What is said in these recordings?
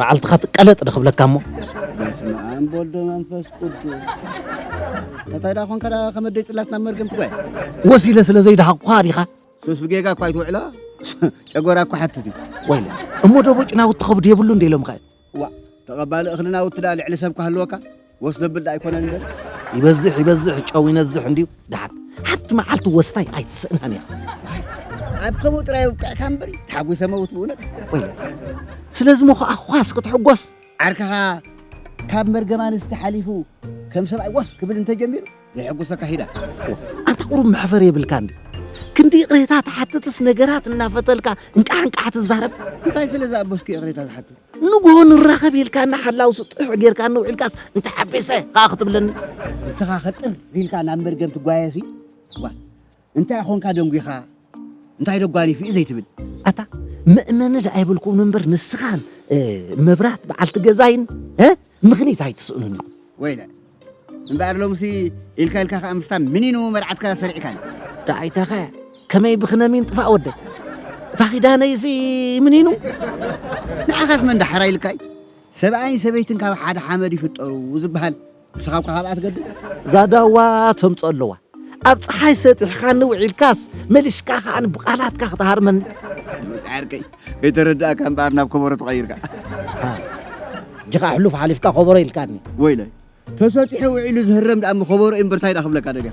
መዓልትኻ ትቀለጥ ዶ ክብለካ እሞ። በስመኣም ብወልዶ መንፈስ ቅዱስ እንታይ ደኣ ኮንካ ደኣ ከም ኣደይ ጽላት ናብ መርገም ትጓየ። ወስ ኢለ ስለ ዘይደሃቕኩኻ ዲኻ። ሱስ ብጌጋ እኳ ኣይትውዕሎ ጨጎራ እኳ ሓትት እዩ። ወይለ እሞ ዶቦጭ ናውቲ ከብዱ የብሉ እንዴ ኢሎምኻ እዮም። ዋእ ተቐባሊ እኽሊ ናውቲ ደኣ ልዕሊ ሰብ ክሃልወካ። ወስ ዘብል ዳኣ ኣይኮነን እምበር ይበዝሕ ይበዝሕ ጨው ይነዝሕ እንድዩ ደሓን ሓንቲ መዓልቲ ወስታይ ኣይትስእናን እያ ኣብ ከምኡ ጥራይ ውቅዕካ እምበር ተሓጒሰ መውት ብእውነት ወይ ስለዚ ሞ ከዓ ኳስ ክትሕጎስ ዓርክኻ ካብ መርገም ኣንስቲ ሓሊፉ ከም ሰብኣይ ወስ ክብል እንተጀሚሩ የሕጉሰካ ሂዳ ኣንታ ቁሩብ መሕፈር የብልካን ድዩ ክንዲ ይቕሬታ ትሓትትስ ነገራት እናፈተልካ እንቃሕ እንቃሕ ትዛረብ እንታይ ስለ ዝኣበስኩ ይቕሬታ ዝሓትት ንግሆ ንራኸብ ኢልካና ሓላው ስጥሕ ጌርካኒ ውዒልካስ እንተሓፊሰ ከኣ ክትብለኒ ንስኻ ከጥር ኢልካ ናብ መርገም ትጓየሲ ጓል እንታይ ኾንካ ደንጒኻ እንታይ ደጓኒፉ ዩ ዘይትብል። ኣታ መእመንድ ኣይብልኩምን እምበር ንስኻን መብራት በዓልቲ ገዛይን ምኽኒት ኣይትስእኑን ኢኹም። ወይለ እምበኣር ሎምሲ ኢልካ ኢልካ ከኣ ምስታ ምኒኑ መርዓትካ ሰሪዕካኒ። ደኣይተኸ ከመይ ብኽነሚን ጥፋእ ወደይ እታ ኪዳነይ እዚ ምኒኑ ንዓኻስ መን ዳሕራ ኢልካይ ሰብኣይን ሰበይትን ካብ ሓደ ሓመድ ይፍጠሩ ዝበሃል ንስኻ እኳ ካብኣ ትገድድ እዛ ዳዋ ተምፅኦ ኣለዋ ኣብ ፀሓይ ሰጢሕኻኒ ውዒልካስ መሊሽካ ከዓኒ ብቃላትካ ክትሃርመኒ ፃዕርከይ ከይተረዳእካ እምበኣር ናብ ከበሮ ተቐይርካ ጅኻ ሕሉፍ ሓሊፍካ ከበሮ ኢልካኒ ወይለይ ተሰጢሑ ውዒሉ ዝህረም ደኣ እሞ ከበሮ እዩ እምበር እንታይ ደኣ ክብለካ ደልየ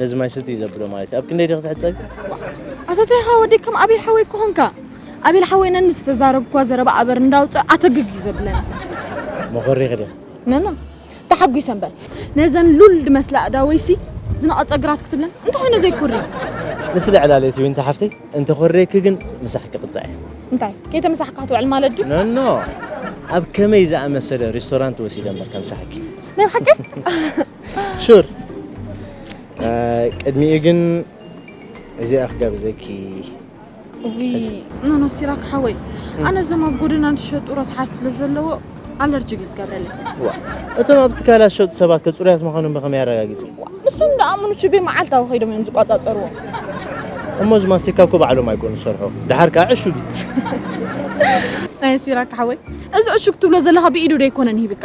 ነዚ ማይ ስቲ ዘብሎ ማለት ኣብ ክንደይ ዲኺ ትሕጸቢ ኣታታይኻ ወዲ ከም ኣቤል ሓወይ ኮንካ ኣቤል ሓወይ ነን ዝተዛረብኳ ዘረባ ኣበር እንዳውጽእ ኣተግግ እዩ ዘብለኒ መኾሪኺ ዶ ነኖ ተሓጒሰ እምበር ነዘን ሉል ድመስላ እዳ ወይሲ ዝነቐጸ ግራት ክትብለን እንተኾይነ ዘይኩሪ ንስለ ዕላለይቲ ዊንታ ሓፍተይ እንተኾሬኪ ግን ምሳሕ ክቕጽዐ እንታይ ከይተመሳሕካ ትውዕል ማለት ድዩ ነኖ ኣብ ከመይ ዝኣመሰለ ሬስቶራንት ወሲደ እምበር ከምሳሕኪ ናይ ሓቂ ሹር ቅድሚኡ ግን እዚኣ ክጋብዘኪ ኖኖ ሲራክ ሓወይ ኣነ እዞም ኣብ ጎደና ንሸጡ ረስሓት ስለ ዘለዎ ኣለርጂ እዩ ዝገብረለይ እቶም ኣብ ትካላ ዝሸጡ ሰባት ከፅሩያት ምዃኖም ብኸመይ ኣረጋጊፅኪ ንሶም ደኣምኑ ችቤ መዓልታዊ ከይዶም እዮም ዝቆፃፀርዎ እሞ እዚ ማስቲካ እኮ ባዕሎም ኣይኮኑ ዝሰርሑ ድሓር ከዓ ዕሹግ እዩ ናይ ሲራክ ሓወይ እዚ ዕሹግ ትብሎ ዘለኻ ብኢዱ ደይኮነን ይህብካ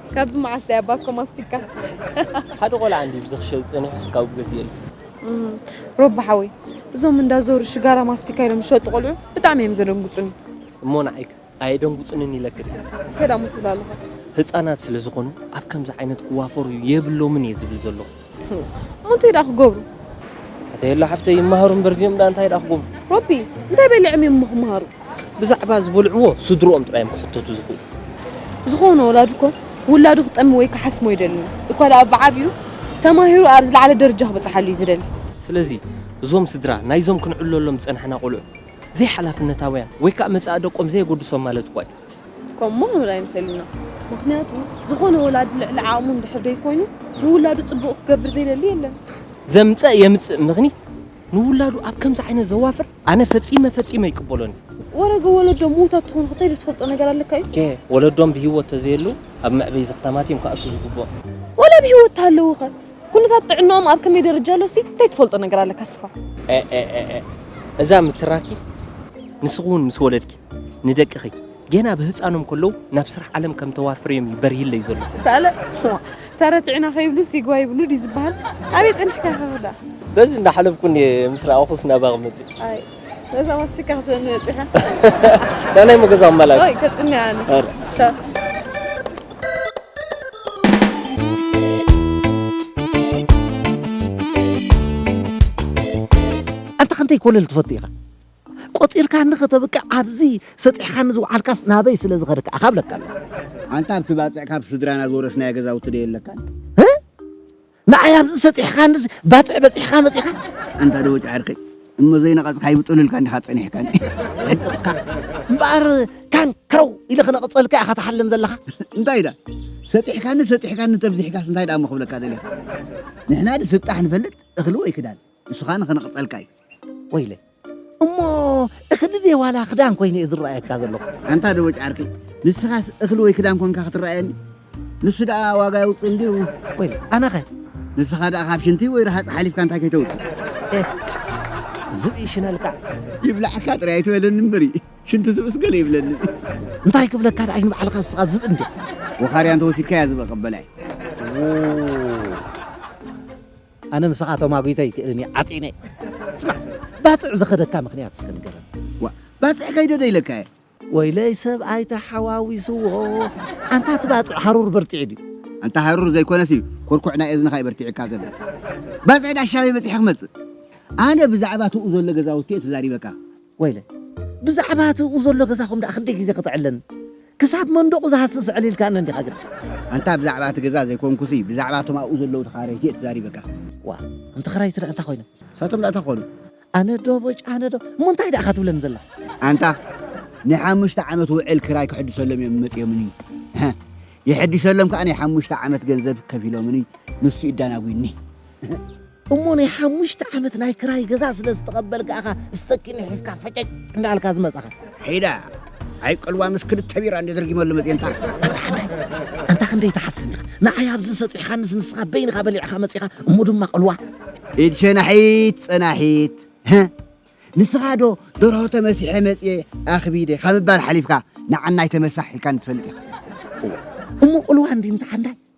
ካብ መዓስ ዳይ ኣባኮ ማስቲካ ሓደ ቆልዓ እንዲብ ዝኽሸይ ጸኒሑ ስካብ ገዝየሉ ሮባ ሓወይ እዞም እንዳዞሩ ሽጋራ ማስቲካ ኢሎም ዝሸጡ ቆልዑ ብጣዕሚ እዮም ዘደንግጹኒ እሞ ንዓይከ ኣየደንጉጽንን ኢለክን ከዳሙ ትብላለኻ ህፃናት ስለ ዝኾኑ ኣብ ከምዚ ዓይነት ክዋፈሩ የብሎምን እየ ዝብል ዘለኹ እንታይ ደኣ ክገብሩ ኣተየላ ሓፍተይ ይመሃሩ እምበር እዚኦም ደኣ እንታይ ደኣ ክገብሩ ረቢ እንታይ በሊዖም እዮም ክመሃሩ ብዛዕባ ዝበልዕዎ ስድርኦም ጥራዮም ክሕተቱ ዝኽእሉ ዝኾነ ወላድ እኮ ውላዱ ክጠሚ ወይ ክሓስሞ ይደሊ እኳ ደኣ ብዓብዩ ተማሂሩ ኣብ ዝለዓለ ደረጃ ክበጽሓሉ እዩ ዝደሊ ስለዚ እዞም ስድራ ናይዞም ክንዕለሎም ዝጸናሕና ቆልዑ ዘይሓላፍነታውያን ወይ ከዓ መጻኢ ደቆም ዘየገድሶም ማለት እኳ እዩ ከምኡ ክንብል ኣይንኽእልን ኢና። ምኽንያቱ ዝኾነ ወላዲ ልዕሊ ዓቕሙ እንድሕር ዘይኮይኑ ንውላዱ ጽቡቕ ክገብር ዘይደሊ የለን። ዘምጸእ የምጽእ ምኽኒት ንውላዱ ኣብ ከምዚ ዓይነት ዘዋፍር ኣነ ፈጺመ ፈጺመ ኣይቅበሎን እየ። ወረገ ወለዶ ምዉታት ትኾኑ ከ ታይ ትፈልጦ ነገር ኣለካ እዩ? ከ ወለዶም ብሂወት ተዘየልዉ ኣብ መዕበዪ እዚ ከተማ እቲ እዮም ክኣትዉ ዝግብኦም። ወላ ብሂወት ተሃለዉ ከ ኩነታት ጥዕንኦም ኣብ ከመይ ደረጃ ኣሎ ሲ ታይ ትፈልጦ ነገር ኣለካ እስኻ? ኤእ እዛ ምትራኪ ንስኺ ውን ምስ ወለድኪ ንደቅኺ ገና ብህፃኖም ከለዉ ናብ ስራሕ ዓለም ከም ተዋፍርዮም እዩ በሪህለይ ዘሎ ሳለ ተረትዕና ከይብሉስ ይግባ ይብሉ ድዩ ዝበሃል ኣበይ ፀኒሕካ ከኽዳ በዚ እንዳሓለፍኩ እኒ ምስ ረኣኹስ ናባቕ መፅእ ኣይ ነዛ ወሲካ ክትመፅኻ ናናይ መገዛ መላክ ኦይ ከፅንያ ኣንስ ኣረ። ቻው ኣንተ ከምተይ ኮለል ትፈቱ ኢኻ ቆጺርካኒ ከተብቅዕ ኣብዚ ሰጢሕካኒ ዝወዓልካስ ናበይ ስለ ዝኸድካ ኣኻ ብለካ ኣለኹ። ኣንታ ኣብቲ ባጽዕ ካብ ስድራና ዝወረስናዮ ገዛውቲ ዶ የለካን? እ ንዓይ ኣብዚ ሰጢሕካኒስ ባጽዕ በጺሕካ መጺኻ? ኣንታ ዶ ጫዕርከይ እሞ ዘይነቐጽካ ይብጥልልካ እንዲኻ ጸኒሕካኒ። ኣይንቀጽካ እምበኣር ካን ክረው ኢለ ክነቐጸልካ ኢኻ ትሓልም ዘለኻ። እንታይ ዳ ሰጢሕካኒ ሰጢሕካኒ ተብዚሕካስ እንታይ ዳሞ ክብለካ ደሊኻ ንሕና ድ ስጣሕ ንፈልጥ እኽሊ ወይ ክዳን። ንስኻ ንኽንቕጸልካ እዩ ወይለ እሞ እኽሊ ደ ዋላ ክዳን ኮይኑ እዩ ዝረኣየካ ዘለኹ ኣንታ ደቦጭ ዓርቂ ንስኻስ እኽሊ ወይ ክዳን ኮንካ ክትረኣየኒ ንሱ ደኣ ዋጋ የውፅእ እንድዩ ወይ ኣነኸ ንስኻ ደኣ ካብ ሽንቲ ወይ ረሃፅ ሓሊፍካ እንታይ ከይተውፅእ ዝብኢ ሽነልካ ይብላዕካ ጥራይ ኣይትበለኒ እምበሪ ሽንቲ ዝብእስ ገለ ይብለኒ እንታይ ክብለካ ደኣ ይንባዕልካ ንስኻ ዝብኢ እንደ ወኻርያ እንተወሲድካያ ዝበ ቀበላይ ኣነ ምሳኻ ተማጒተ ኣይክእልን እየ ዓጢነ። ስማዕ ባጽዕ ዝኸደካ ምኽንያት እስከ ንገረኒ። ዋእ ባጽዕ ከይደ ዶ ኢለካ እየ። ወይለይ ሰብኣይ ተሓዋዊስዎ። ኣንታ እቲ ባጽዕ ሃሩር በርቲዑ ድዩ? ኣንታ ሃሩር ዘይኮነሲ ኩርኩዕ ናይ እዝንኻ እዩ በርቲዑካ ዘሎ። ባጽዕ ዳሻበይ በጺሐ ክመጽእ። ኣነ ብዛዕባ ትኡ ዘሎ ገዛውቲ እየ ተዛሪበካ። ወይለ ብዛዕባ እቲ ኣብኡ ዘሎ ገዛኹም ደኣ ክንደይ ግዜ ክተዕልን? ክሳብ መንደቑ ዝሃስስ ዕሊል ከኣኒ እንዲኻ ግን። ኣንታ ብዛዕባ እቲ ገዛ ዘይኮንኩሲ ብዛዕባ እቶም ኣብኡ ዘለዉ ተኻረይቲ እየ ተዛሪበካ። ዋእ እቶም ተኸራይቲ ደኣ እንታይ ኮይኖም? ንሳቶም ደኣ እንታይ ክኾኑ? ኣነ ዶ ቦጭ ኣነ ዶ እሞ እንታይ ደኣ ኢኻ ትብለኒ ዘለኻ? ኣንታ ንሓሙሽተ ዓመት ውዕል ክራይ ከሐድሰሎም እዮም መጺኦምኒ። እህ የሐዲሰሎም ከኣ ናይ ሓሙሽተ ዓመት ገንዘብ ከፊሎምኒ ንሱ እዩ ኣዳናጒኒ። እህ። እሞ ናይ ሓሙሽተ ዓመት ናይ ክራይ ገዛ ስለ ዝተቐበልካ ኢኻ ስተኪኒ ሒዝካ ፈጨጭ እንዳልካ ዝመጻኻ ሒዳ ኣይ ቀልዋ ምስ ክልተ ቢራ እንደ ደርጊመሉ መፅንታ ኣንታ ክንደይ ትሓስብ ኢኻ ንዓይ ኣብዚ ሰጢሕኻንስ ንስኻ በይንኻ በሊዕኻ መጺኻ እሞ ድማ ቀልዋ ኢድ ሸናሒት ጸናሒት ንስኻ ዶ ደርሆ ተመሲሐ መፅየ ኣኽቢደ ካብ ምባል ሓሊፍካ ንዓናይ ተመሳሕ ኢልካ ንትፈልጥ ኢኻ እሞ ቁልዋ እንዲ እንተ ሓንዳይ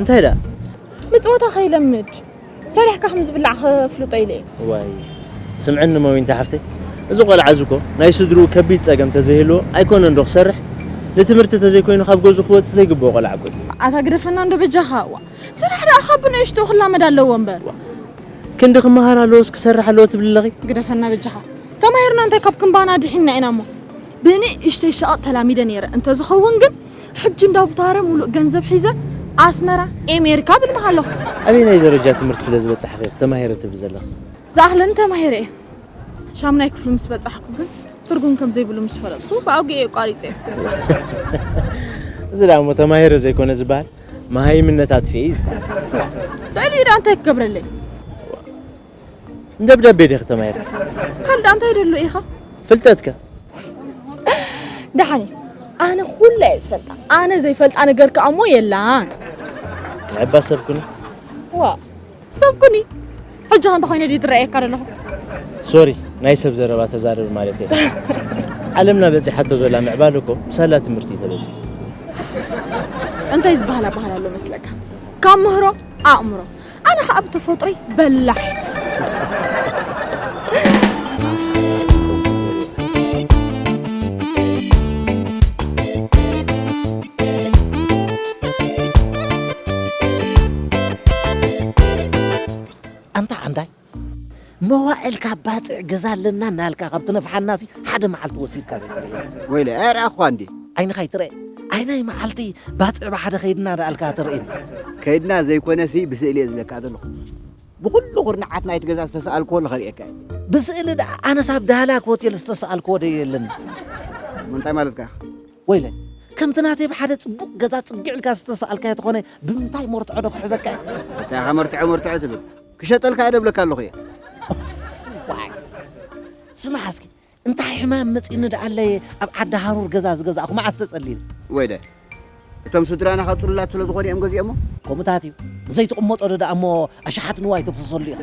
እንታይ ደኣ ንጸወታ ከይለምድ ሰሪሕካ ከም ዝብላዕ ከፍልጦ ኢለ እየ። ዋይ ስምዕኒ መዊንታ ሓፍተይ እዚ ቆልዓ እዚ እኮ ናይ ስድርኡ ከቢድ ጸገም ተዘይህልዎ ኣይኮነን ዶ ክሰርሕ ንትምህርቲ ተዘይኮይኑ ካብ ገዝኡ ክወጽእ ዘይግብኦ ቆልዓ እኮ እዩ። ኣታ ግደፈና እንዶ በጃኻ ዋእ ስራሕ ደኣ ካብ ብንእሽትኡ ክላመድ ኣለዎ እምበር። ክንዲ ክመሃር ኣለዎስ ክሰርሕ ኣለዎ ትብሊ ኣለኺ? ግደፈና በጃኻ ተማሂርና እንታይ ካብ ክንባና ድሒንና ኢና እሞ ብንእሽተይ ሸቐጥ ተላሚደ ነይረ እንተዝኸውን ግን ሕጂ እንዳ ቡታረ ሙሉእ ገንዘብ ሒዘ ኣስመራ ኤሜሪካ ብልምሃ ኣለኹ። ኣበየናይ ደረጃ ትምህርቲ ስለ ዝበጻሕኺ ተማሂረ ትብሊ ዘለኺ? ዝኣኽለኒ ተማሂረ እየ። ሻሙናይ ክፍሊ ምስ በጻሕኩ ግን ትርጉም ከም ዘይብሉ ምስ ፈለጥኩ ብኣውጊ እየ ቋሪጸዮ። እዚ ደኣ እሞ ተማሂረ ዘይኮነ ዝበሃል መሃይምነት ኣጥፊኤ እዩ ዝበሃል። ልዕሊኡ ደኣ እንታይ ክገብረለይ? ደብዳቤ ዲኺ ተማሂርኪ? ካልድ ኣንታይ ይደሉ ኢኻ? ፍልጠትከ? ደሓን እዩ ኣነ ኩላ እየ ዝፈልጣ ኣነ ዘይፈልጣ ነገር ከዓ እሞ የላን ንዕባ ሰብ ኩኒ ዋ ሰብ ኩኒ ሕጂ ከንተ ኮይነ ድዩ ትረኣየካ ዘለኹ ሶሪ ናይ ሰብ ዘረባ ተዛርብ ማለት እየ ዓለምና በፂሓቶ ዘላ ምዕባል እኮ ምሳላ ትምህርቲ እዩ ተበፂሑ እንታይ ዝበሃል ኣባሃል ኣሎ መስለካ ካብ ምህሮ ኣእምሮ ኣነ ከኣ ብተፈጥሮይ በላሕ ኣንታ ዓንዳይ መዋዕልካ ባጽዕ ገዛ ኣለና እናልካ ካብ ትነፍሓናሲ ሓደ መዓልቲ ወሲድካ ተትርእየና። ወይለይ ኣይርኣኹኻ እንድየ። ዓይንኻ ኣይትርኣይ ኣይናይ መዓልቲ ባጽዕ ብሓደ ከይድና ደኣልካ ተርእየና። ከይድና ዘይኮነሲ ብስእሊ እየ ዝብለካ ዘለኹ። ብኹሉ ኩርናዓት ናይቲ ገዛ ዝተሰኣልክዎ ኣሎ ከርእየካ እየ። ብስእሊ ደኣ ኣነስ ኣብ ዳህላክ ሆቴል ዝተሰኣልክዎ ዶ የለን? እንታይ ማለትካ ኢኻ? ወይለይ ከምቲ ናተይ ብሓደ ጽቡቕ ገዛ ጽግዕ ኢልካ ዝተሰኣልካዮ ተኾነ ብምንታይ ሞርትዖ ዶ ክሕዘካ እየ እንታይ ኢኻ መርትዐ መርትዐ ትብል ክሸጠልካ እየ ደብለካ ኣለኹ እየ ዋይ ስማዕ እስኪ እንታይ ሕማም መጺእኒ ደኣ ኣለየ ኣብ ዓዲ ሃሩር ገዛ ዝገዛእኹ መዓስ ተጸሊኒ ወይለ እቶም ስድራና ካብ ጽሉላት ስለ ዝኾኑ እዮም ገዚኦሞ ከምኡታት እዩ ንዘይትቕመጦ ዶ ደኣ እሞ ኣሽሓት ንዋይ ተፍስሰሉ ኢኻ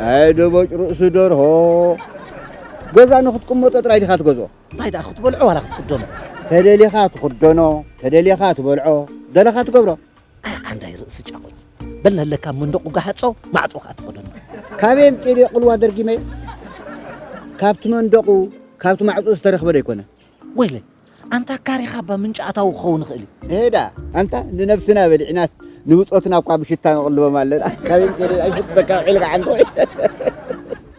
ኣይ ደቦጭ ርእሲ ደርሆ ገዛ ንኽትቅመጦ ጥራይ ዲኻ ትገዝኦ እንታይ ደኣ ክትበልዖ ዋላ ክትክደኖ? ተደሊኻ ትኽደኖ፣ ተደሊኻ ትበልዖ፣ ዝደለኻ ትገብሮ። ኣያ ዓንዳይ ርእሲ ጫቑት በል ነለካ መንደቑ ጋሃጾ ማዕጾ ከኣ ትኸደኖ። ካበይ ኣምጺኤ ድየ ቅልዋ ደርጊመ? ካብቲ መንደቑ ካብቲ ማዕጾ ዝተረኽበ ዶ ኣይኮነ? ወይለይ ኣንታ ካሪኻ እባ ምንጪ ኣታዊ ክኸውን ይኽእል እዩ። እሄ ደኣ ኣንታ ንነብስና በሊዕናስ ንብጾትና እኳ ብሽታ ንቕልቦም ኣለና። ካበይ ኣምጺኤ ድየ ኣይፍልጥን ካብ ዒልካ ዓንዳይ።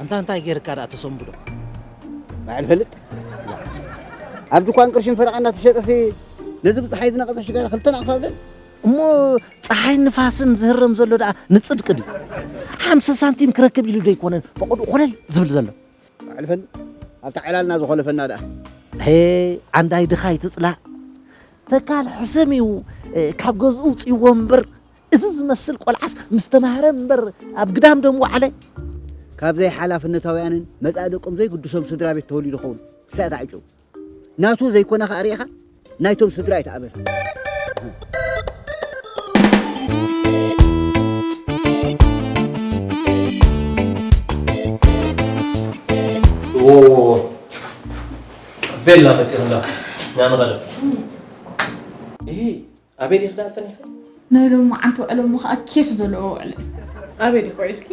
ኣንታ እንታይ ጌርካ ደኣ ተሰንብዶ? ባዕል ፈልጥ ኣብ ድኳን ቅርሽን ፈረቓ እንዳተሸጠሲ ነዚ ብጸሓይ ዝነቐጸ ሽጋራ ክልተ ናቕፋ ዝብል እሞ ጸሓይን ንፋስን ዝህረም ዘሎ ደኣ ንጽድቂ ድዩ ሓምሳ ሳንቲም ክረክብ ኢሉ ዘይኮነን ፈቐድኡ ኮለል ዝብል ዘሎ ባዕል ፈልጥ ኣብታ ዕላልና ዝኾለፈና ደኣ ዓንዳይ ድኻ ይትጽላእ ተካል ሕሰም እዩ ካብ ገዝኡ ውጽእዎ እምበር እዚ ዝመስል ቆልዓስ ምስ ተማህረ እምበር ኣብ ግዳም ዶ ምወዓለ? ካብ ዘይሓላፍነታውያንን መጻኢ ደቆም ዘይግድሶም ስድራ ቤት ተወሊዱ ኸውን ክሳእ ተዓጭው ናቱ ዘይኮነ ከኣ ርኢኻ ናይቶም ስድራ እዩ ተኣበሰ ቤላ ፈጢርላ ናንቐደም ኣበይ ዲኺ ደኣ ጸኒሑ? ናይ ሎምዓንቲ ውዕሎ እሞ ከኣ ኬፍ ዘለዎ ውዕሎ እዩ። ኣበይ ዲኺ ውዒልኪ?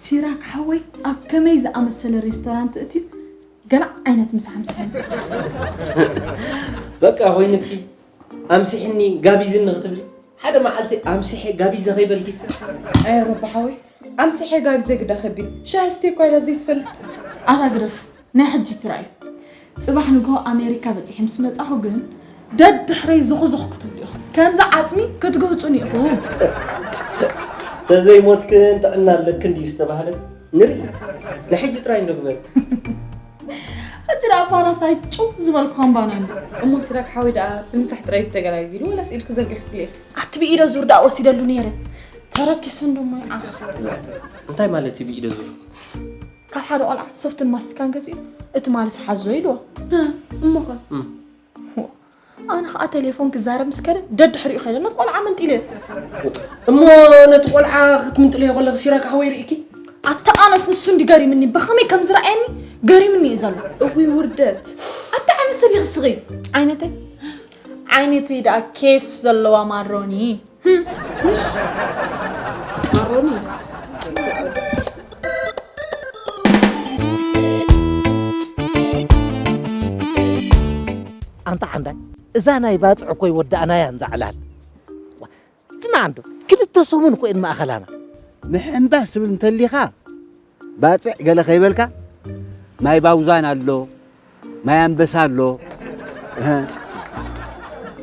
ሲራክ ሓወይ ኣብ ከመይ ዝኣመሰለ ሬስቶራንት እትዩ ገለ ዓይነት ምሳሕ ምስሕኒ። በቃ ኮይኑኪ ኣምሲሕኒ ጋቢዝኒ ክትብሊ ሓደ መዓልቲ ኣምሲሐ ጋቢዘ ከይበልኪ። ኣየ ሮቢ ሓወይ ኣምስሐ ጋቢ ዘግዳ ከቢድ ሻሂ ስተይ እኳ ኢላ ዘይትፈልጥ ኣታ ግደፍ ናይ ሕጂ ትራይ ጽባሕ ንግሆ ኣሜሪካ በጺሐ ምስ መጻኹ ግን ደድሕረይ ዞኽዞኽ ክትብሉ ኢኹም ከምዚ ዓጽሚ ክትግህጹኒ ኢኹም ተዘይሞትክን ጥዕና ኣለክን ድዩ ዝተባህለ ንርኢ ናይ ሕጂ ጥራይ እንዶ ግበሪ ሕጂ ደኣ ፓራሳይ ጭው ዝበልኩ ከምባና እሞ ስራክ ሓወይ ደኣ ብምሳሕ ጥራይ ተገላጊሉ ወላስ ኢድኩ ዘርጊሑ ክልኤ ኣቲ ብኢደ ዙር ደኣ ወሲደሉ ነይረ ተረኪሰን ደሞ እንታይ ማለት እዩ ብኢደ ዙር ካብ ሓደ ቆልዓ ሶፍትን ማስቲካን ገዚኡ እቲ ማለት ሓዞ ኢልዎ እሞኸ ኣነ ከዓ ቴሌፎን ክዛረብ ምስ ከደ ደድሕሪኡ ከይደ ነቲ ቆልዓ መንጢለ እሞ ነቲ ቆልዓ ክትምንጥለዮ ከለኺ ሲራ ካሕወይ ርእኪ ኣታ ኣነስ ንሱ እንዲ ገሪምኒ ብኸመይ ከም ዝረኣየኒ ገሪምኒ እዩ ዘሎ እዊ ውርደት ኣታ ዓይነት ሰብ ይኽስኺ ዓይነተይ ዓይነተይ ደኣ ኬፍ ዘለዋ ማሮኒ ኣንታ ዓንዳይ እዛ ናይ ባጽዕ እኮ ይወዳእናያ እዛ ዕላል። ስማዕንዶ ክልተ ሰሙን እኮ እየን ማእኸላና። ምሕንባስ ትብል እንተሊኻ ባጽዕ ገለ ከይበልካ ማይ ባውዛን ኣሎ ማይ ኣንበሳ ኣሎ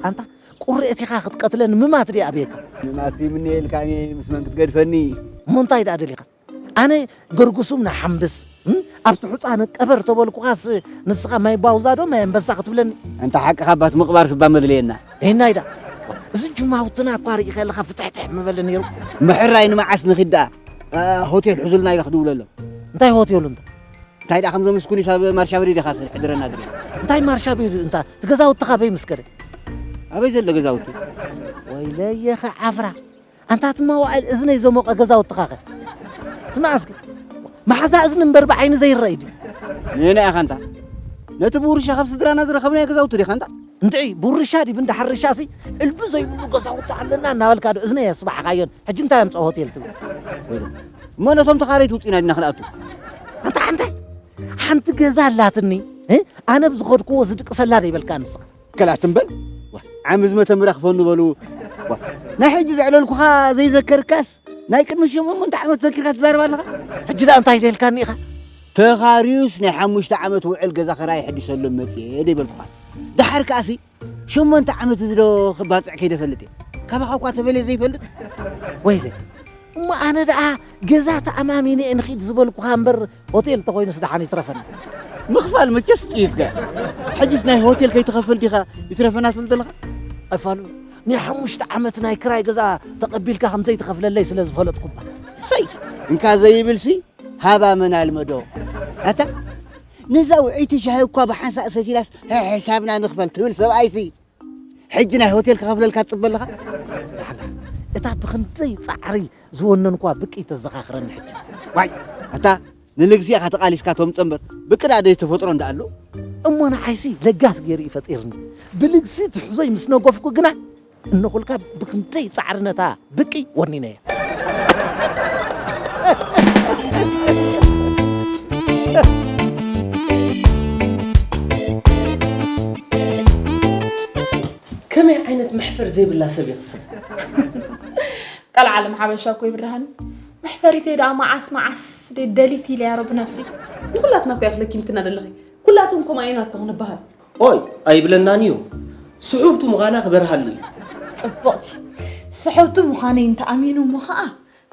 ኣንታ ቁርኤቲኻ ክትቀትለኒ ምማት ድያ ኣብየካ ምማስ ይምነየልካ እኔ ምስ መን ክትገድፈኒ እሞ እንታይ ደኣ ደሊኻ ኣነ ገርግሱም ንሓምብስ ኣብቲ ሑፃ ንቀበር ተበልኩኻስ ንስኻ ማይ ባውዛ ዶ ማይ ኣንበሳ ክትብለኒ ኣንታ ሓቅኻ ኣባት ምቕባር ስባ መድለየና ሄናይ ዳ እዚ ጅማውትና እኳ ርኢ ከለኻ ፍትሕትሕ ምበለ ነይሩ ምሕራይ ንመዓስ ንኺድ ደኣ ሆቴል ሕዙልና ኢለ ክድውለሎም እንታይ ሆቴሉ እንታ እንታይ ደኣ ከምዞም ስኩኒ ሳብ ማርሻ በሪድ ኢኻ ክሕድረና ድሪ እንታይ ማርሻ ቤዱ እንታ እቲ ገዛውትኻ በይ ምስከረ ኣበይ ዘሎ ገዛውቲ ወይለየኸ ዓፍራ ኣንታ እቲ መዋእል እዝነይ ዘሞቐ ገዛውትኻኸ? ስማዕ እስከ፣ መሓዛ እዝኒ እምበር ብዓይኒ ዘይረኣይ ድዩ? ንየናይ ኢኻ ኣንታ? ነቲ ብውርሻ ካብ ስድራና ዝረኸብናዮ ገዛውቲ ዲኻ ኣንታ? እንትዒ ብውርሻ ድዩ እንዳ ሕርሻሲ እልቢ ዘይብሉ ገዛውቲ ኣለና እናበልካ ዶ እዝነይ ኣየስባሕካዮን? ሕጂ እንታይ ኣምጽኦ ሆቴል ትብል? እሞ ነቶም ተኻረይቲ ውጺእና ዲና ክንኣቱ? ኣንታ ሓንቲ ሓንቲ ገዛ ኣላትኒ ኣነ ብዝኸድክዎ ዝድቅሰላ ዶ ይበልካ ንስኻ? ከላ ትም በል ዓሚ ዝመተ ምራ ክፈኑ በሉ ናይ ሕጂ ዘዕለልኩኻ ዘይዘከርካስ ናይ ቅድሚ ሸሞንተ ዓመት ዘኪርካ ትዛረብ ኣለኻ ሕጂ ደኣ እንታይ ደልካኒ ኢኻ ተኻርዩስ ናይ ሓሙሽተ ዓመት ውዕል ገዛ ኸራይ ሕዲሰሎም መፅየ ደይበልኩኻ ደሓር ከኣሲ ሸሞንተ ዓመት እዚ ዶ ክባፅዕ ከይደ ፈልጥ እየ ካባኻ እኳ ተበልየ ዘይፈልጥ ወይለ እሞ ኣነ ደኣ ገዛ ተኣማሚነ እየ ንኺድ ዝበልኩኻ እምበር ሆቴል ተኾይኑስ ደሓን ይትረፈና። ምኽፋል መቸስ ጥይት ገ ሕጅስ ናይ ሆቴል ከይትኸፍል ዲኻ ይትረፈና ትብል ዘለኻ ኣይፋሉ ናይ ሓሙሽተ ዓመት ናይ ክራይ ገዛ ተቐቢልካ ከም ዘይትኸፍለለይ ስለ ዝፈለጥኩ እባ ሰይ እንካ ዘይብልሲ ሃባ መን ኣልመዶ ኣታ ነዛ ውዕይቲ ሻሂ እኳ ብሓንሳእ ሰቲናስ ሕሳብና ንኽፈል ትብል ሰብኣይሲ ሕጂ ናይ ሆቴል ክኸፍለልካ ትጽበ ኣለኻ ሓላ እታ ብክንደይ ጻዕሪ ዝወነንኳ ብቂ ተዘኻኽረኒ ሕጂ ዋይ ኣታ ንንግሲ ኢኻ ተቓሊስካ ቶም ጸምበር ብቂ ደኣ ደይ ተፈጥሮ እንዳ ኣሎ እሞ ንዓይሲ ለጋስ ገይሩ እዩ ፈጢርኒ ብልግሲ ትሕዞይ ምስ ነጎፍኩ ግና እነኹልካ ብክንደይ ጻዕሪ ነታ ብቂ ወኒነየ። ከመይ ዓይነት መሕፈር ዘይብላ ሰብ እዩ ክስብ ቀል ዓለም ሓበሻ እኮ ይብርሃን መሕፈሪተይ ደኣ መዓስ መዓስ ደሊት ኢለ ያሮ ብነብሲ ንኩላትና እኮ ያክለኪምክና ደለኺ ኩላቶም ከምኣየና እኮ ክንበሃል ኦይ ኣይብለናን እዩ ስሑብቱ ምዃና ክበርሃሉ እዩ። ጽብቕቲ ስሕብቱ ምዃነይ እንተ ኣሚኑ እሞ ኸኣ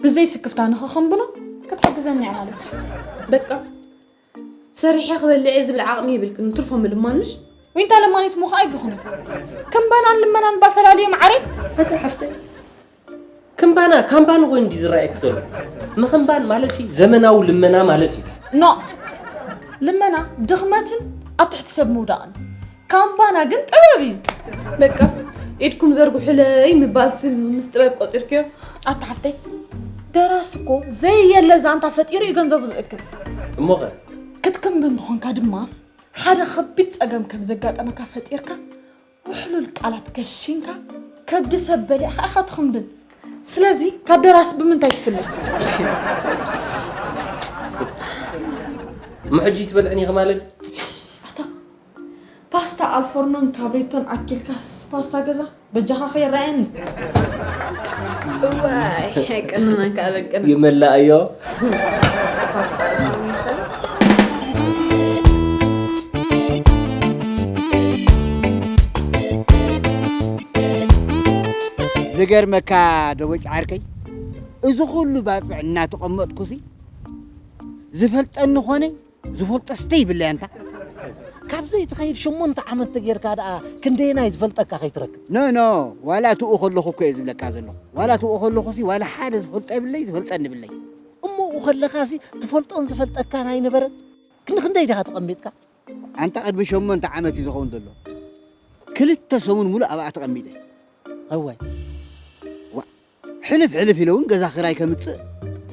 ብዘይ ስክፍታ ንኽኽንብሎ ክትሕግዘኒ እያ ማለት እዩ። በቃ ሰሪሐ ክበልዕ እየ ዝብል ዓቕሚ የብልክን እንትርፎ ምልማን ምሽ ዊንታ ለማኒት እሞ ኸኣ ኣይብኹን ክንበናን ልመናን ባፈላልዮ መዓረይ። ኣታ ሓፍተይ ክንባና ካምባኒ ኮይኑ ድዩ ዝረኣየኪ ዘሎ? ምኽንባን ማለት ሲ ዘመናዊ ልመና ማለት እዩ። ኖ ልመና ድኽመትን ኣብ ትሕቲ ሰብ ምውዳቕን፣ ካምባና ግን ጥበብ እዩ። በቃ ኢድኩም ዘርግሑለይ ምባል ሲ ምስ ጥበብ ቆፂርክዮ? ኣታ ሓፍተይ ደራሲ እኮ ዘየለ ዛንታ ፈጢሩ እዩ ገንዘቡ ዝእክብ። እሞ ኸ ክትክንብን እንተኾንካ ድማ ሓደ ከቢድ ፀገም ከም ዘጋጠመካ ፈጢርካ ውሕሉል ቃላት ከሺንካ ከብዲ ሰብ በሊዕካ ኢኻ ትኽንብን ስለዚ ካብ ደራሲ ብምንታይ ትፍለ እሞ ሕጂ ትበልዕን ኢኺ ማለት ፓስታ ኣልፎርኖን ካብሬቶን ኣኪልካስ ፓስታ ገዛ በጃኻ ከይረኣየኒ እዋይ ቅንና ካልቅን ይመላእዮ ዝገርመካ ደቦጭ ዓርከይ እዚ ኩሉ ባፅዕ እናተቐመጥኩሲ ዝፈልጠኒ ኾነ ዝፈልጦስ ተይብለይ ኣንታ ካብ ዘይትኸይድ ሸሞንተ ዓመት ተጌርካ ደኣ ክንደየናይ ዝፈልጠካ ከይትረክብ ኖ ኖ ዋላ ትኡ ከለኹ እኮ እየ ዝብለካ ዘለኹ ዋላ ትኡ ከለኹሲ ዋላ ሓደ ዝፈልጦ የብለይ ዝፈልጠኒ ብለይ እሞኡ ከለኻሲ ትፈልጦን ዝፈልጠካን ኣይነበረን ክንደይ ድኻ ተቐሚጥካ ኣንታ ቅድሚ ሸሞንተ ዓመት እዩ ዝኸውን ዘሎ ክልተ ሰሙን ሙሉእ ኣብኣ ተቐሚጠ እዋይ ሕልፍ ሕልፍ ኢለውን ገዛ ክራይ ከምጽእ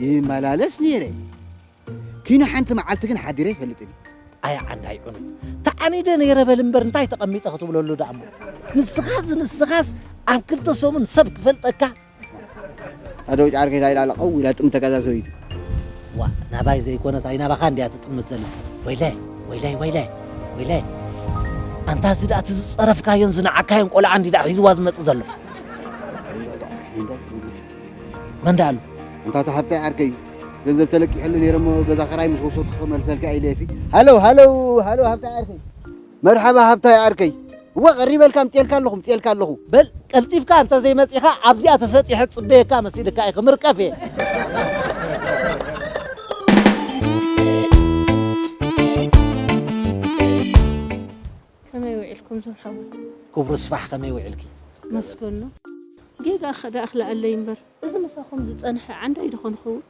ይመላለስ ነይረ። ኪኖ ሓንቲ መዓልቲ ግን ሓዲረ ኣይፈልጥን እዩ። ኣይ ዓንዳይ ዑኑ ተዓኒደ ነይረ በል እምበር እንታይ ተቐሚጠ ክትብለሉ ደኣ እሞ ንስኻስ ንስኻስ ኣብ ክልተ ሰሙን ሰብ ክፈልጠካ ኣዶ ጫር ከይታ ኢላ ኣለቀው ኢላ ጥምተካ እዛ ሰበይቲ ዋ ናባይ ዘይኮነት ኣይ ናባኻ እንዲያ ትጥምት ዘላ ወይለ ወይለ ወይለ ወይለ ኣንታ እዚ ደኣ እቲ ዝጸረፍካዮን ዝነዓካዮን ቆልዓ እንዲ ደኣ ሒዝዋ ዝመጽእ ዘሎ መን ደኣሉ እንታተ ሃብታይ ዓርከይ ገንዘብ ተለቂሐሉ ነይረ እሞ ገዛ ክራይ ምስ ወሰድኩ ክመልሰልካ ኢለ ሲ ሃለው ሃለው ሃለው ሃብታይ ዓርከይ መርሓባ ሃብታይ ዓርከይ እወ ቀሪበልካ ምፅኤልካ ኣለኹ ምፅኤልካ ኣለኹ በል ቀልጢፍካ እንተዘይመፂኻ ኣብዚኣ ተሰጢሐ ፅበየካ መሲልካ እየ ክምርቀፍ እየ ከመይ ውዒልኩም እዞም ሓው። ክብሩ ስባሕ ከመይ ውዒልኪ። መስገኖ ጌጋ ከ ደኣ ክልኣለይ እምበር እዚ ምሳኹም ዝጸንሐ ዓንዳይ ዶ ኮን ይኸውን።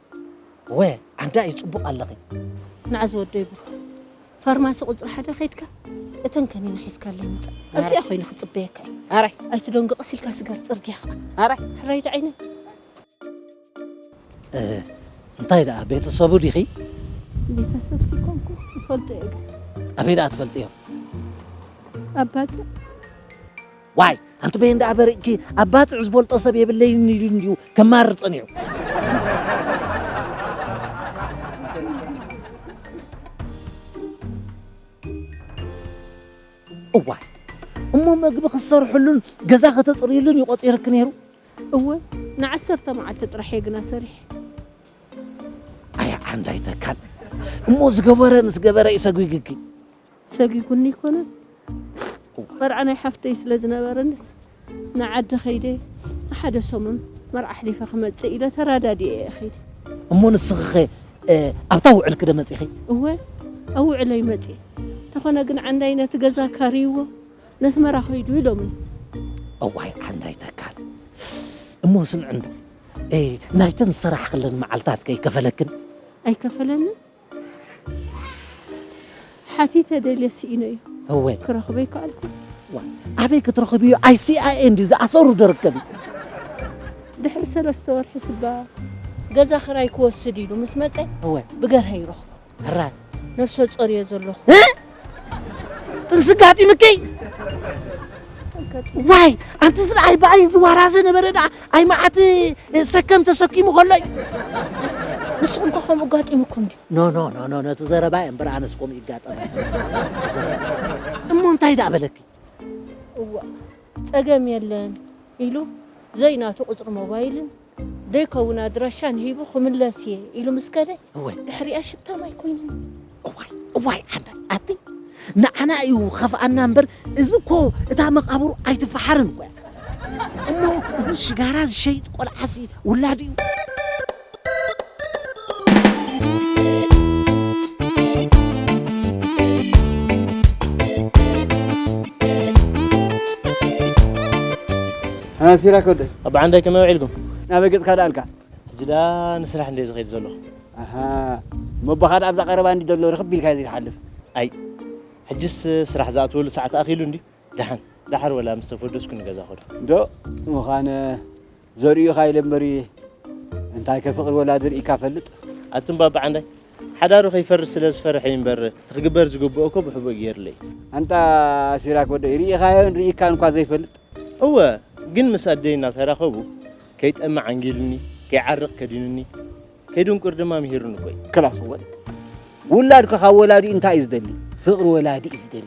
እወ ዓንዳ እዩ ጽቡቕ ኣለኺ። መዓዝ ወደይ ብሩኽ ፋርማሲ ቁጽሪ ሓደ ከይድካ እተን ከኒና ሒዝካለይ ምጻእ ኣብዚኣ ኮይኑ ክጽበየካ እዩ። ኣራይ ኣይትደንግቐስ ኢልካ ስገር ጽርግያ ከኣ ኣራይ ሕራይ ደዓይነ እንታይ ደኣ ቤተሰቡ ዲኺ? ቤተሰብ ሲኮንኩ ይፈልጡ እየ ግን ኣበይ ደኣ ትፈልጥዮ? ኣብ ባፅዕ ዋይ ኣንቲ በየን ደኣ በሪቕኪ ኣብ ባፅዕ ዝፈልጦ ሰብ የብለይን ኢሉ እንድዩ ከማር ፀኒዑ እዋይ እሞ መግቢ ክትሰርሕሉን ገዛ ከተፅርይሉን እዩ ቆፂርኪ ነይሩ እወ ንዓሰርተ መዓልቲ ጥራሕ እየ ግና ሰሪሐ። ኣየ ዓንዳ ይተካል እሞ ዝገበረ ምስ ገበረ እዩ ሰጒግኪ። ሰጒጉኒ ኣይኮነን መርዓ ናይ ሓፍተይ ስለ ዝነበረንስ ንዓዲ ከይደ ንሓደ ሰሙን መርዓ ኣሕሊፈ ክመጽእ ኢለ ተራዳዲኤ እየ ከይደ። እሞ ንስኺኸ ኣብታ ውዕልኪ ዶ መጺኺ? እወ ኣብ ውዕለይ መጺኤ፣ እንተኾነ ግን ዓንዳይ ነቲ ገዛ ኣካርይዎ ነስመራ ከይዱ ኢሎምኒ። እዋይ ዓንዳይ ተካል እሞ ስምዒ እንዶ ናይተን ዝሰራሕክለን መዓልታት ከይከፈለክን? ኣይከፈለንን ሓቲተ ደልየ ስኢነዮ እወ ክረኽቦ ኣይከኣልኩን። ኣበይ ክትረኽብዮ ኣይ ሲኣይኤ እንዲ ዝኣሰሩ ደርክን ድሕሪ ሰለስተ ወርሒ ስባ ገዛ ክራይ ክወስድ ኢሉ ምስ መፀ እወ ብገርሀ ይረኽቦ። ሕራይ ነብሰጾር እየ ዘለኹ። ጥንሲ ጋጢምኪ ዋይ ኣንቲ ስለ ኣይ ብኣይ ዝዋራ ዝነበረ ደኣ ኣይ መዓት ሰከም ተሰኪሙ ከሎ እዩ ንስኹም ከ ከምኡ ጋጢሙኩም ድዩ? ኖ ኖ ኖ ኖ ነቲ ዘረባ እየ እምበር ኣነስ ከምኡ ይጋጠመ እሞ እንታይ ደኣ በለኪ እዋ ጸገም የለን ኢሉ ዘይናቱ ቁጽሪ ሞባይልን ዘይከውን ኣድራሻ ንሂቡ ክምለስ እየ ኢሉ ምስ ከደ እወ ድሕሪኣ ሽታ ማይ ኮይኑኒ። እዋይ እዋይ ዓዳ ኣቲ ንዓና እዩ ኸፍኣና እምበር እዚ እኮ እታ መቓብሩ ኣይትፈሓርን እኮ እያ እሞ እዚ ሽጋራ ዝሸይጥ ቆልዓሲ ውላዱ እዩ ኣሲራ ከደ ኣብ ዓንዳይ ከመይ ውዒልኩም ናበይ ገጽካ ደኣ ኣልካ ሕጂ ደኣ ንስራሕ እንደ ዝኸይድ ዘለኹ ኣሃ መቦኻ ደኣ ኣብዛ ቀረባ እንዲ ዘሎ ርኽብ ቢልካ ዘይትሓልፍ ኣይ ሕጅስ ስራሕ ዝኣትወሉ ሰዓት ኣኺሉ እንዲ ደሓን ደሓር ወላ ምስ ተፈደስኩ ንገዛ ኸዶ እንዶ ምዃነ ዘርእዩኻ ኢለ እምበሪ እንታይከ ፍቕሪ ወላ ዝርእካ ፈልጥ ኣትምባ ብዓንዳይ ሓዳሩ ከይፈርስ ስለ ዝፈርሐ'ዩ እምበር እቲ ክግበር ዝግብኦ እኮ ብሕቡእ ጌሩለይ። ኣንታ ሲራክ ወደይ ርኢኻዮን ርኢካን እኳ ዘይፈልጥ። እወ ግን ምስ ኣደይ እናተራኸቡ ከይጠምዕ ኣንጊሉኒ፣ ከይዓርቕ ከዲኑኒ፣ ከይድንቁር ድማ ምሂሩኒ እኮ'ዩ። ክላስ እወ ውላድካ ካብ ወላዲኡ እንታይ እዩ ዝደሊ? ፍቕሪ ወላዲ'ዩ ዝደሊ።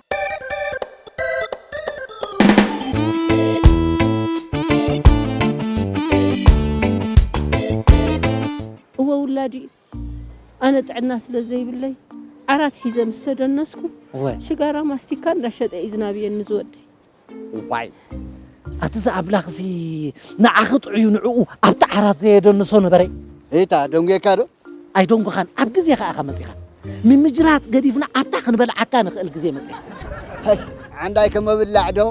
እወ ውላድ እዩ ኣነ ጥዕና ስለ ዘይብለይ ዓራት ሒዘ ምስ ተደነስኩ ሽጋራ ማስቲካ እንዳሸጠ እዩ ዝናብየኒ ዝወደይ ዋይ ኣቲ ዝኣምላኽ እዚ ንዓኺ ጥዑዩ ንዕኡ ኣብቲ ዓራት ዘየደንሶ ነበረ እታ ደንጉየካ ዶ ኣይደንጉኻን ኣብ ግዜ ከዓ ኢኻ መፂኻ ምምጅራት ገዲፍና ኣብታ ክንበልዓካ ንኽእል ግዜ መፂኻ ዓንዳይ ከመብላዕ ዶ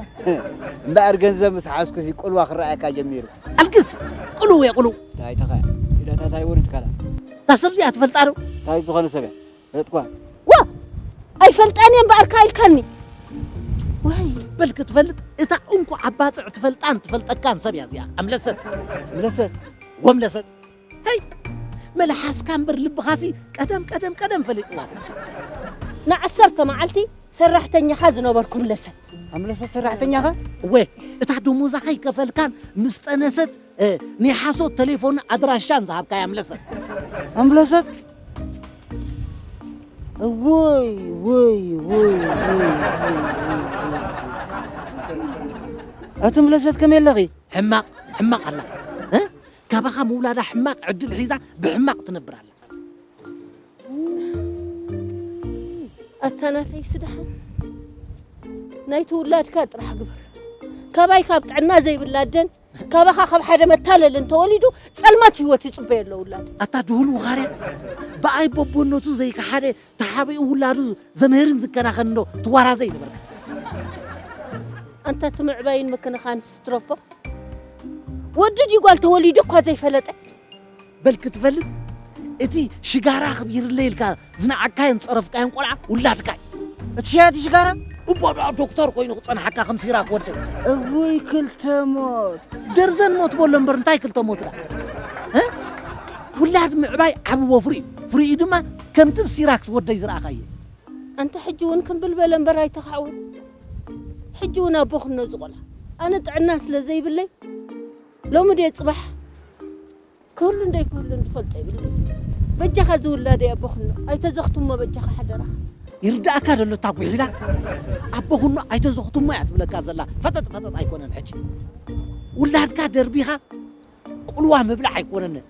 እምበኣር ገንዘብ ምስ ሓዝኩ እዚ ቁልዋ ክረኣየካ ጀሚሩ ኣልግስ ቁሉ ወይ ቁሉ እንታይ ተኸ ኢዳታታይ ወሪድካላ እታ ሰብዚኣ ትፈልጣ ዶ እንታይ ዝኾነ ሰብ እያ ዕጥቋ ዋ ኣይፈልጣን እየ እምበኣርካ ኢልካኒ ወይ በል ክትፈልጥ እታ እንኮ ዓባፅዕ ትፈልጣን ትፈልጠካን ሰብ እያ እዚኣ ኣምለሰት ምለሰት ጎምለሰት ሀይ መልሓስካ እምበር ልብኻሲ ቀደም ቀደም ቀደም ፈሊጥዋ ንዓሰርተ መዓልቲ ሰራሕተኛኻ ዝነበርኩ ምለሰት ኣምለሰት ሰራሕተኛኻ እወ እታ ደሞዛ ከይከፈልካን ምስ ጠነሰት ናይ ሓሶት ተሌፎንን ኣድራሻን ዝሃብካያ ኣምለሰት። ኣምለሰት እውይ ውይ ውይ ኣቶ ምለሰት ከመይ ኣለኺ? ሕማቕ ሕማቕ ኣላ እ? ካባኻ ምውላዳ ሕማቕ ዕድል ሒዛ ብሕማቕ ትነብር ኣላ ኣታ ናተይ ስድሓን ናይቲ ውላድካ ጥራሕ ግበር ካባይ ካብ ጥዕና ዘይብላ ኣደን ካባኻ ካብ ሓደ መታለል እንተወሊዱ ጸልማት ህይወት ይጽበዮ ኣሎ ውላድ ኣታ ድሁል ውኻርያ ብኣይ በቦነቱ ዘይከሓደ ተሓቢኡ ውላዱ ዘምህርን ዝከናኸን እንዶ ትዋራዘ ይነበርካ ኣንታ እቲ ምዕባይን ምክንኻን ስትረፎ ወዲ ድዩ ጓል ተወሊዱ እኳ ዘይፈለጠ በል ክትፈልጥ እቲ ሽጋራ ክቢርለ ኢልካ ዝነዓካዮን ዝጸረፍካዮን ቆልዓ ውላድካ እዩ እቲ ሸያቲ ሽጋራ እቦ ድኣ ዶክተር ኮይኑ ክጸንሓካ ከም ሲራ ክወድቕ እውይ ክልተ ሞት ደርዘን ሞት በሎ እምበር እንታይ ክልተ ሞት ድኣ ውላድ ምዕባይ ዓብ ወፍሪ እዩ ፍሪኡ ድማ ከምቲ ብሲራክስ ወደይ ዝረኣኻየ ኣንተ ሕጂ እውን ክምብል በለ እምበር ኣይተኻዕወ ሕጂ እውን ኣቦ ክኖ ዝቖልዓ ኣነ ጥዕና ስለ ዘይብለይ ሎሚ ድየ ፅባሕ ክህሉን ዘይክህሉን ዝፈልጦ የብለይን። በጃኻ እዚ ውላደይ ኣቦ ኩኖ ኣይተዘኽትሞ በጃኻ ሓደራኻ። ይርዳእካ ዶ ኣሎ እታ ጉሒላ ኣቦ ኩኖ ኣይተዘኽትሞ እያ ትብለካ ዘላ ፈጠጥ ፈጠጥ ኣይኮነን ሕጂ ውላድካ ደርቢኻ ቁልዋ ምብላዕ ኣይኮነን።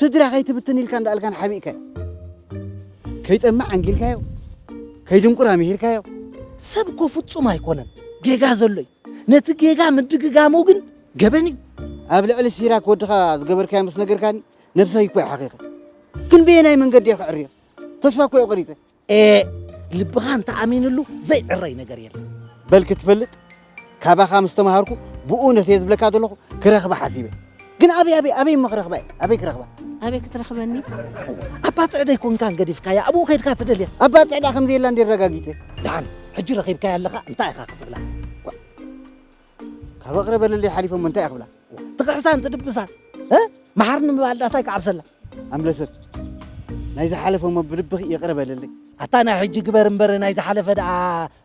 ስድራ ከይትብትን ኢልካ እንዳኣልካን ሓቢእካ ከይጠምዕ ኣንጊልካዮ ከይድንቁር ኣምሂርካዮ ሰብ እኮ ፍጹም ኣይኮነን ጌጋ ዘሎ እዩ ነቲ ጌጋ ምድግጋሙ ግን ገበን እዩ ኣብ ልዕሊ ሲራክ ወድኻ ዝገበርካዮ ምስ ነገርካኒ ነብሰይ እኮ ይሓኺኸ ግን በየናይ መንገዲ እየ ክዕርዮ ተስፋ እኮ እዩ ቆሪፀ ኤእ ልብኻ እንተኣሚንሉ ዘይዕረይ ነገር የለን። በል ክትፈልጥ ካባኻ ምስ ተምሃርኩ ብእውነት እየ ዝብለካ ዘለኹ ክረኽባ ሓሲበ ግን ኣበይ ኣበይ ኣበይ እሞ ክረኽባ እየ ኣበይ ክረኽባ ኣበይ ክትረኽበኒ ኣባ ፅዕደይ ኮንካን ገዲፍካያ ኣብኡ ከድካ ትደልያ ኣባ ፅዕዳ ከምዘየላ እንዲ ረጋጊፀ ደሓን ሕጂ ረኺብካያ ኣለኻ እንታይ ኢኻ ክትብላ ካብ እቕረ በለለይ ሓሊፎም እንታይ ክብላ ትኽሕሳን ትድብሳን መሓርኒ ምባል ዳታይ ክዓብሰላ ኣምለሰት ናይ ዝሓለፈ እሞ ብልብኺ ይቕረ በለለይ ኣታ ናይ ሕጂ ግበር እምበር ናይ ዝሓለፈ ደኣ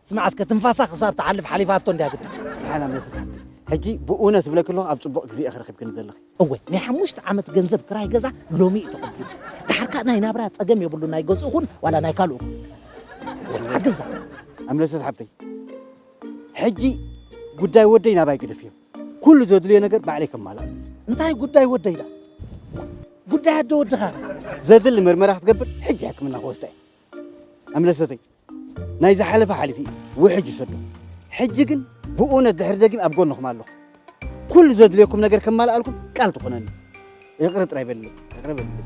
ስማዕ እስከ ትንፋሳ ክሳብ ትሓልፍ ሓሊፋቶ እንድያ ግዲ ብሓን ኣምለሰት ሓብተይ ሕጂ ብእውነት እብለኪ ኣለኹ ኣብ ፅቡቕ ግዜ ኢኺ ረኺብክኒ ዘለኺ እወ ናይ ሓሙሽተ ዓመት ገንዘብ ክራይ ገዛ ሎሚ እዩ ተቐቢሉ ድሓር ከዓ ናይ ናብራ ፀገም የብሉ ናይ ገዝኡ ኹን ዋላ ናይ ካልኡ ኹን ሓግዛ ኣምለሰት ሓብተይ ሕጂ ጉዳይ ወደይ ናባይ ግደፍ እዩ ኩሉ ዘድልዮ ነገር ባዕለይ ከማላእ እንታይ ጉዳይ ወደይ ዳ ጉዳይ ኣደ ወድኻ ዘድሊ ምርመራ ክትገብር ሕጂ ሕክምና ክወስዳ እዩ ኣምለሰተይ ናይ ዝሓለፈ ሓሊፉ እዩ ውሕጅ ይሰዶ ሕጂ ግን ብእውነት ድሕሪ ደጊም ኣብ ጎንኹም ኣለኹ ኩሉ ዘድልየኩም ነገር ከማልኣልኩም ቃል ትኾነኒ ይቕሪ ጥራይ በልለይ ይቕሪ በልለይ